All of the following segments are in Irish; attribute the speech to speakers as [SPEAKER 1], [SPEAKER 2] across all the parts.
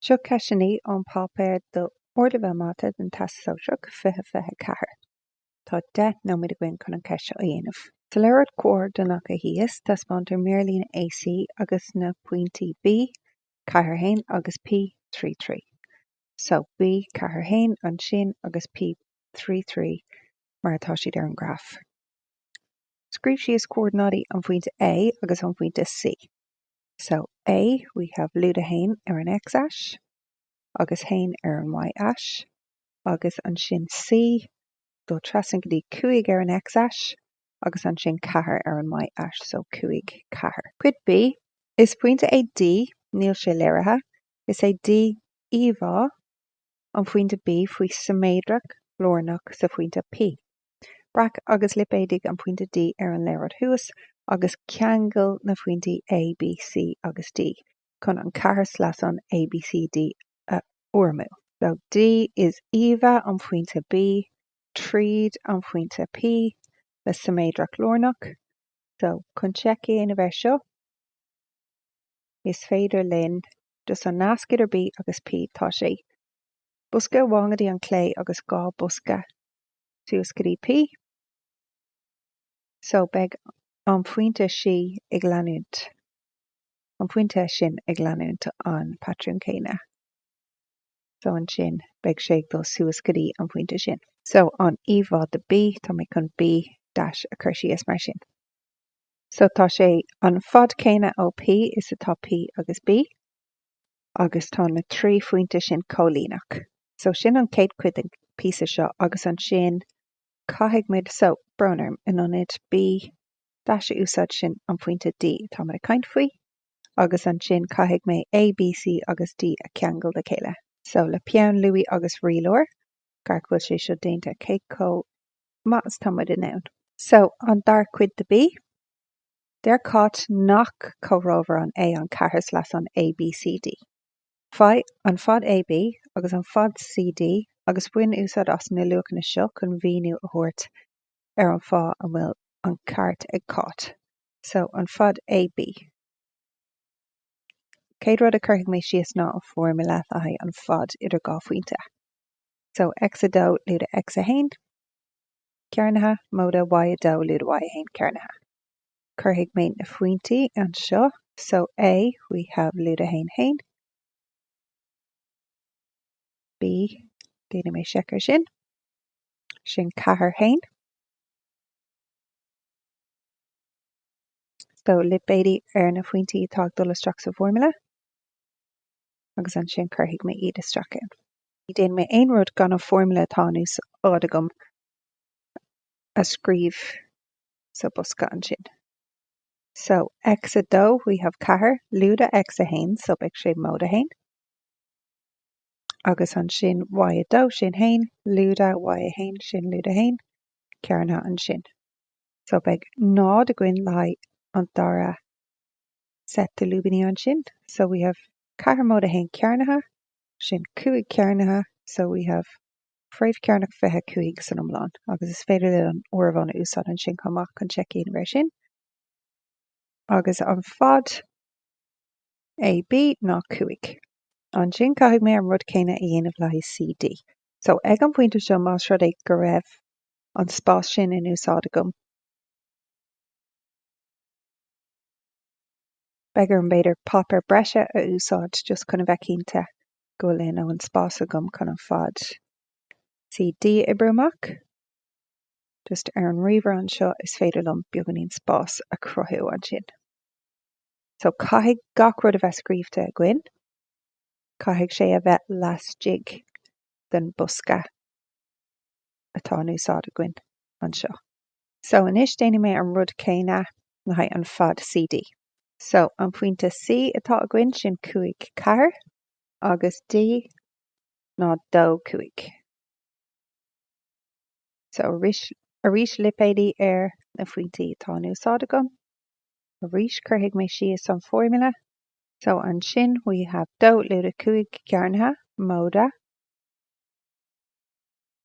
[SPEAKER 1] Seo ceisteanna ón páipéar d'Ardleibhéal Mata don Teastas Sóisearach 2024. Tá 10 nóiméad againn chun an cheist seo a dhéanamh. Sa léaráid chomhordanach thíos, taispeántar mírlíne AC agus na pointí B, Ceathair a haon, agus P, Trí trí. So, B, Ceathair a haon, ansin, agus P, Trí trí, mar atá siad ar an ngraf. Scríobh síos comhordanáidí an phointe A agus an phointe C. So A, we have lúide a haon ar an x-ais agus a haon ar an y-ais agus ansin C, dul trasna go dtí 5 ar an x-ais agus ansin 4 ar an y-ais, so 5, 4. Cuid B, Is pointe é D, níl sé léirithe, is é D íomhá an phointe B faoi shiméadracht lárnach sa phointe P. Breac agus lipéadaigh an pointe D ar an léaráid thuas agus ceangail na pointí A, B, C agus D chun an ceathairshleasán ABCD a fhoirmiú. So, D is íomhá an phointe B tríd an phointe P le siméadracht lárnach. So, chun seic a dhéanamh air seo, is féidir linn just an nasc idir B agus P, tá sé bosca amháin go dtí an chlé agus dhá bosca suas go dtí P. So beidh an pointe seo ag leanúint, an pointe sin ag leanúint an patrún céanna. So ansin beidh sé ag dul suas go dtí an pointe sin. So an íomhá de B, tá mé chun B dash a chur síos mar sin. So tá sé an fad céanna ó P is atá P agus B. agus tá na trí phointe sin comhlíneach. So, sin an chéad chuid den phíosa seo agus ansin caithfidh muid, so, brón orm, in ionad B dash a úsáid sin an pointe D atá muid ag caint faoi agus ansin caithfidh mé A, B, C agus D a cheangal le chéile. So, le peann luaí agus rialóir, iarracht go bhfuil sé seo déanta, cé chomh maith is atá muid in ann. So, an dara cuid de B. Deir Cáit nach comhthreomharán é an ceathairshleasán ABCD. Faigh an fad AB agus an fad CD agus bain úsáid as na luachanna seo chun míniú a thabhairt ar an bhfáth a bhfuil an ceart ag Cáit. So, an fad AB. Chéad rud a chuirfidh mé síos ná an fhoirmle le haghaidh an fad idir dhá phointe. So, X2, lúide X1, cearnaithe, móide Y2, lúide Y1, cearnaithe. Cuirfidh mé na phointí anseo. So A, we have lúide 1, haon. B, déanfaidh mé seic ar sin. Sin ceathair, haon. So lipéidí ar na phointí atá ag dul isteach sa bhfoirmle. Agus ansin cuirfidh mé iad isteach. Ní déanfaidh mé aon rud gan an foirmle atá in úsáid agam a scríobh sa bosca ansin. So, X2, we have ceathair, lúide X1, so beidh sé móide 1. Agus ansin Y2, sin haon, lúide Y1, sin lúide haon, cearnaithe ansin. So beidh náid againn le haghaidh an dara set de lúibíní ansin. So we have ceathair móide 1 cearnaithe, sin cúig cearnaithe, so we have fréamh cearnach 25 san iomlán, agus is féidir linn an áireamhán a úsáid ansin chomh maith chun seic a dhéanamh air sin. Agus an fad AB ná 5. Ansin caithfidh mé an rud céanna a dhéanamh le haghaidh CD. So, ag an phointe seo, más rud é go raibh an spás sin in úsáid agam, beidh orm, b'fhéidir, páipéar breise a úsáid just chun a bheith cinnte go bhfuil a ndóthain spás agam chun an fad CD a oibriú amach. Just ar an ríomhaire anseo is féidir liom beagáinín spás a chruthú ansin. So caithfidh gach rud a bheith scríobhta againn, caithfidh sé a bheith laistigh den bosca atá in úsáid againn anseo. So anois déanfaidh mé an rud céanna le haghaidh an fad CD. So an pointe C atá againn sin cúig ceathair agus D ná dó cúig. So arís lipéidí ar na phointí atá in úsáid agam. Arís cuirfidh mé síos an formula. So ansin we have dó lúide cúig cearnaithe móide.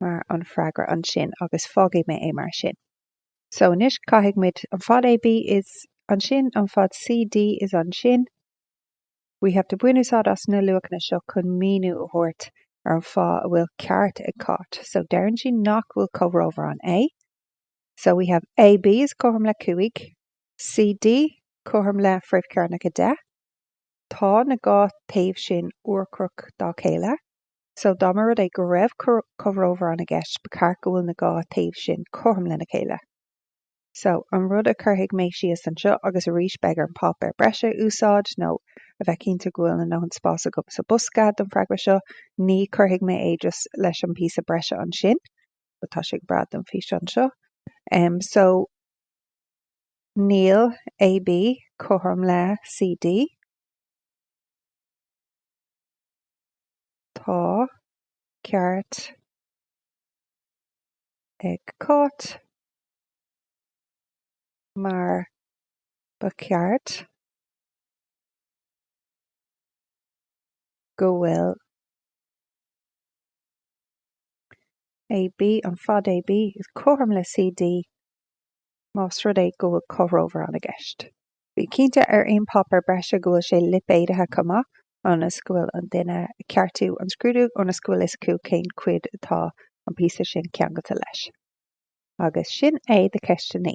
[SPEAKER 1] mar an freagra ansin agus fágfaidh mé é mar sin. So anois caithfidh muid an fad AB is ansin an fad CD is ansin we have to bain úsáid as na luachanna seo chun míniú a thabhairt ar an fáth a bhfuil ceart ag Cáit. So deireann sí nach bhfuil comhthreomharán é. So we have AB is cothrom le 5, CD cothrom le fréamh cearnach 10. Tá na dhá taobh sin urchomhaireach dá chéile. So, dá mba rud é go raibh comhthreomharán i gceist, ba cheart go bhfuil na dhá taobh sin cothrom lena chéile. So, an rud a chuirfidh mé síos anseo, agus arís beidh orm páipéar breise a úsáid nó a bheith cinnte go bhfuil a ndóthain spáis agam sa bhosca don freagra seo, ní chuirfidh mé é just leis an bpíosa breise ansin, but tá sé go breá don físeán seo. Em, so, níl AB cothrom le CD. Tá ceart ag Cáit, mar ba cheart go bhfuil AB, an fad AB, cothrom le CD más rud é go bhfuil comhthreomharán i gceist. Bí cinnte ar aon páipéar breise go bhfuil sé lipéadaithe chomh maith ionas go bhfuil an duine ag ceartú an scrúdú ionas go bhfuil fhios acu cén chuid atá an píosa sin ceangailte leis. Agus sin é do cheisteanna.